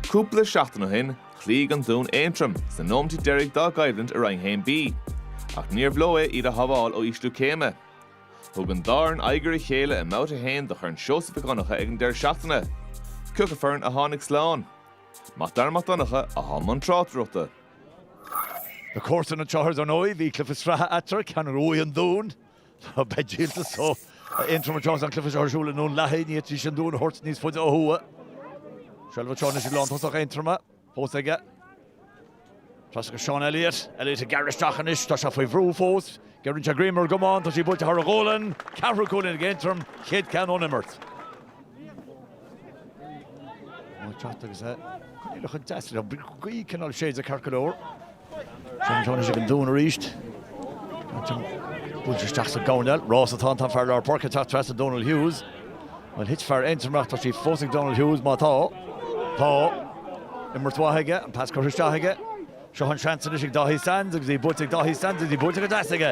Cúpla seachtain ó shin, chloígh an Dún Aontroim sna nóimintí deiridh dá gcoimhlint i Roinn 1B, ach níor leor é iad a shábháil ó ísliú céime. Thug an dá fhoireann aghaidh ar a chéile i mbabhta 1 de Chorn Seosamh Mhic Dhonncha ag an deireadh seachtaine. Cé acu foireann a tháinig slán. Mac Dara Mac Donncha atá i mbun tráchtaireachta. Lá Comhairsana an tSathairn, dar ndóigh, bhí cluiche sraithe eatarthu, ceann a bhuaigh an Dún, Beidh díoltas ó Aontroim agus an cluiche seo ar siúl i nDún Lathaí, ní fhéadfaidís an dún a thabhairt níos faide ó thuaidh. Seilbh anseo anois ag lántosach Aontroma, fós aige. Trasna go Seán Elliott, Elliott ag gearradh isteach anois, tá sé faoi bhrú fós. Giorraíonn sé greim ar an gcamán, tá sí buailte thar a ghualainn, ceathrú cúilín ag Aontroim, chéad ceann ón imirt. An teacht agus é, chuile chun deas le gaí cineál séid a carcadóir. Seans anois ag an dún arís. Buailte isteach sa gcoirnéal. Rás atá ann, tá fear lár páirce ag teacht trasna Donal Hughes. Bhuel, thit fear Aontroma ach tá sí fós ag Donal Hughes, má tá. Tá. Imirt mhaith aige, an pas curtha isteach aige. Seo an seans anois ag Dáithí Sands agus í buailte ag Dáithí Sands agus í buailte go deas aige.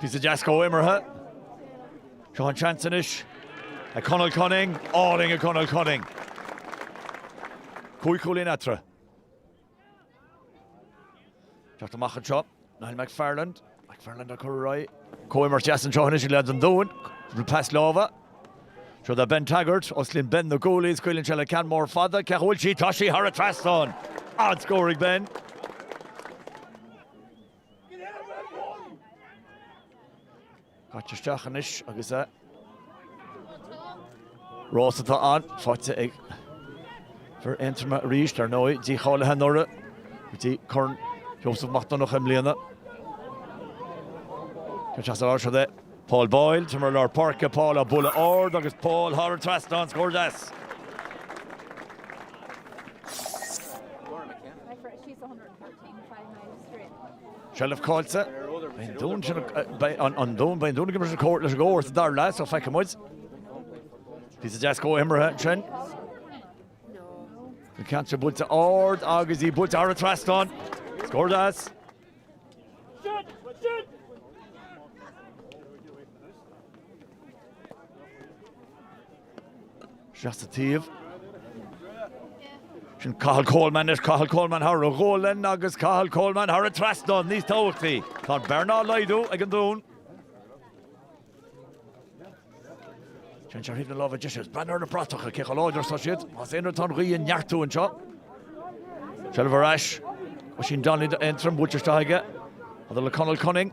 Píosa deas comhimeartha. Seo an seans anois ag Conal Cunning. Álainn ag Conal Cunning. Cúig chúilín eatarthu. Teacht amach anseo, Niall McFarland. McFarland á cur ar aghaidh. Comhimirt deas anseo anois ag leaids an Dúin. Bhfuil pas láimhe. Seo do Ben Taggart. Os cionn Ben na guaillí is scaoileann sé le ceann mór fada. Cá bhfuil sí? Tá sí thar an trasnán. An-scór ag Ben. Caite isteach anois agus é. Rás atá ann, faighte ag fear Aontroma arís, ar ndóigh, díshealbhaithe anuraidh go dtí Corn Sheosamh Mac Donnacha i mbliana. Cén seans ar fháil siad é? Paul Boyle, timpeall lár páirce, Paul á bualadh ard agus Paul thar an trasnán, scór deas! Seilbh caillte. Beidh an Dún ag imeacht leis an gcomharsa, dar leat, so feicfidh muid. Píosa deas comhimeartha ansin. An ceann sin buailte ard agus í buailte thar an trasnán. Scór deas. Seas sa taobh. Sin Cathal Coleman leis, Cathal Coleman thar a ghualainn agus Cathal Coleman thar an trasnán níos tábhachtaí. Tá an bhearna á laghdú ag an Dún. Ceann seo ar thaobh na láimhe deise, is breathnaigh ar na bratacha cé chomh láidir atá siad. Más aon rud tá an ghaoth ag neartú anseo. Seilbh ar ais. Oisín Donnelly d'Aontroim, buailte isteach aige. Mother le Conal Cunning.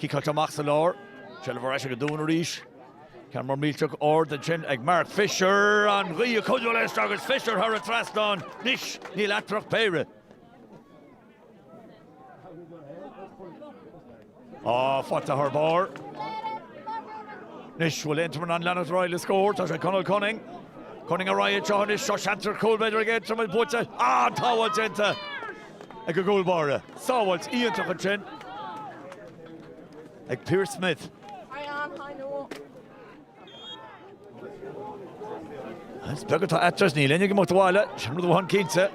Ciceáilte amach sa lár. Seilbh ar ais ag an dún arís. Ceann mór millteach ard ansin ag Mark Fisher. An ghaoth ag cuidiú leis agus Fisher thar an trasnán. Anois níl eatarthu ach péire. Á, faighte thar barr. Anois bhfuil Aontroim in ann leanacht ar aghaidh le scór. Tá sé ag Conall Cunning. Cunning ar aghaidh anseo anois. Tá seans ar chúl, b'fhéidir, ag Aontroim is buailte. Á, an t-adhmad déanta! ag an gcúl báire. Sábháilt iontach ansin ag Pearse Smith. Is beag atá eatarthu, is níl éinne ag imeacht abhaile, sin rud amháin cinnte.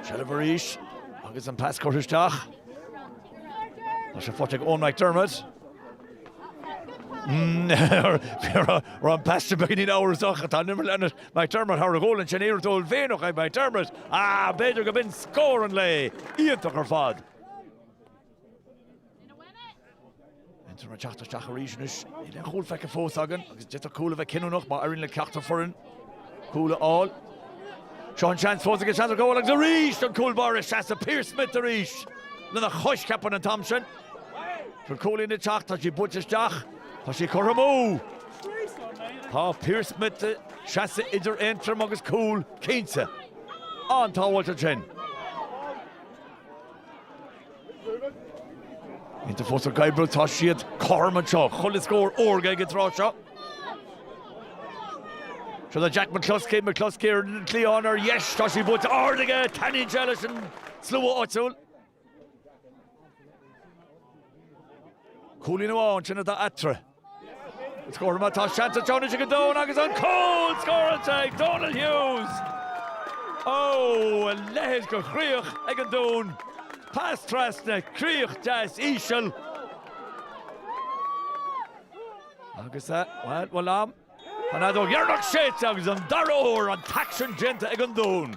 Seilbh arís agus an pas curtha isteach. Tá sé faighte ag Eoin McDermott. Raibh an pas sin beagáinín amhrasach, tá an imirt ag leanúint McDermott, Thar a ghualainn ansin, iarracht uaillmhianach ag McDermott, ach b'fhéidir go b'in scór an lae. Iontach ar fad. Aontroim ag teacht isteach arís anois. Níl aon chúl feicthe fós againn agus d'fhéadfadh cúl a bheith cinniúnach má éiríonn le ceachtar foireann cúl a fháil. Seo an seans fós agus seans ar chúl agus arís an cúl báire seasann Pearse Smith arís lena chois, ceapaim, an t-am sin. Chun cúilín na teach tá sí buailte isteach. Tá sí curtha amú. Tá Pearse Smith ag seasamh idir Aontroim agus cúl, cinnte. An-tsábháilt ansin. Aontroim fós ag oibriú. Tá siad cothrom anseo. Chuile scór órga ag an tráth seo. Siúd é Jack McCluskey. McCluskey ar an gcliathán ar dheis. Tá sí buailte ard aige. Taitníonn sé leis an slua áitiúil. Cúilín amháin, sin atá eatarthu. Scór má tá seans déanach ag an Dún agus an cúl scóráilte ag Donal Hughes! Ó, a leithéid de chríoch ag an Dún. Pas trasna, críoch deas íseal. Agus, bhuel, bhuel am. An fheadóg dheireanach séidte agus an dara huair an t-aicsean déanta ag an Dún.